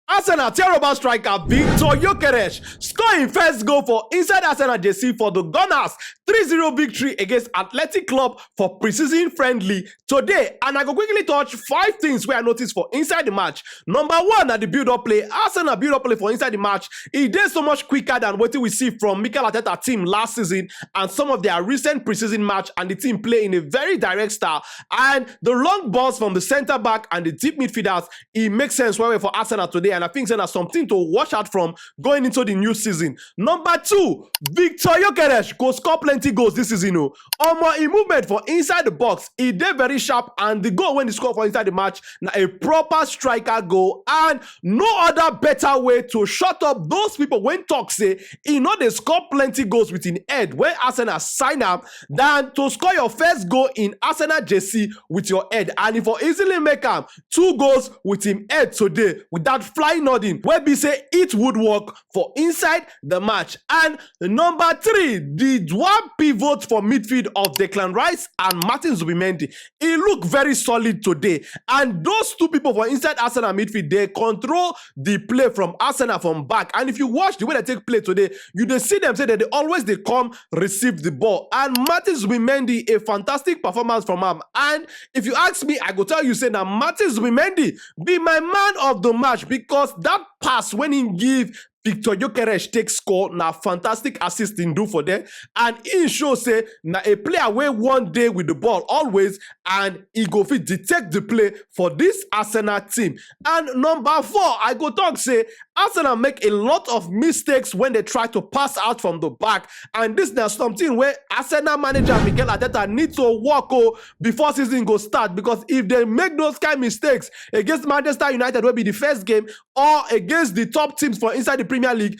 Arsenal tear over striker Viktor Gyokeres score im first goal for inside Arsenal jersey for the Gunners 3-0 victory against Athletic Club for preseason friendly today and I go quickly touch five things wey I notice for inside the match. Number one na the build up play, Arsenal build up play for inside the match e dey so much quicker than wetin we see from Mikel Arteta team last season and some of their recent preseason match and the team play in a very direct style and the long balls from the centre back and the deep midfielders e make sense well well for Arsenal today, and I think say na something to watch out from going into the new season. Number two, Victor Yokeresh go score plenty goals this season. Oh, omo, e movement for inside the box, e dey very sharp, and the goal when he score for inside the match na a proper striker goal, and no other better way to shut up those people when talk say e no dey score plenty goals with im head when Arsenal sign am than to score your first goal in Arsenal jersey with your head, and e for easily make am two goals wit im head today wit dat flying noddin wey be say hit woodwork for inside di match and number three di one pivot for midfield of declan rice and martin zubimendi e look very solid today and those two pipo for inside arsenal midfield dey control di play from arsenal from back and if you watch di way dem take play today you dey see dem say dem dey always dey come receive di ball and martin zubimendi a fantastic performance from am and if you ask me i go tell you say na martin zubimendi be my man of di match because dat pass wey im give victor yokeresh take score na fantastic assist im do for dem and im show say na a player wey wan dey wit di ball always and e go fit detect di play for dis arsenal team. And number four, I go talk say Arsenal make a lot of mistakes when they try to pass out from the back. And this now something where Arsenal manager Mikel Arteta need to work oh, before season go start. Because if they make those kind of mistakes against Manchester United, will be the first game, or against the top teams for inside the Premier League,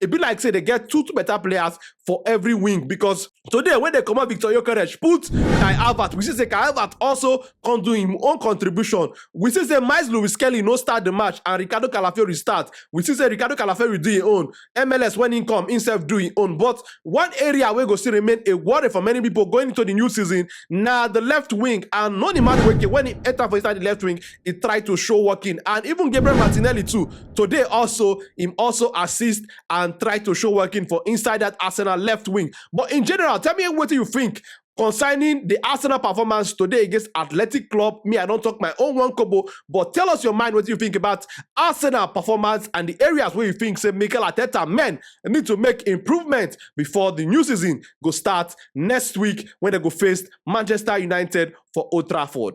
e be like say dem get two two better players for every wing because today when they comot Victor Yokeresh put Kai Havertz, we see say Kai Havertz also come do him own contribution. We see say Miles Lewis Kelly no start the match and Ricardo Calafiori start. We see say Ricardo Calafiori do his own. MLS when he come himself do his own. But one area wey go still remain a worry for many people going into the new season na the left wing and Noni Madueke when he enter for inside the left wing he try to show working and even Gabriel Martinelli too Today also, im also assist and try to show working for inside that Arsenal left wing. But in general, tell me wetin you think concerning the Arsenal performance today against Athletic Club. Me, I don't talk my own one kobo, but tell us your mind what you think about Arsenal performance and the areas where you think say Mikel Arteta men need to make improvement before the new season go start next week when they go face Manchester United for Old Trafford.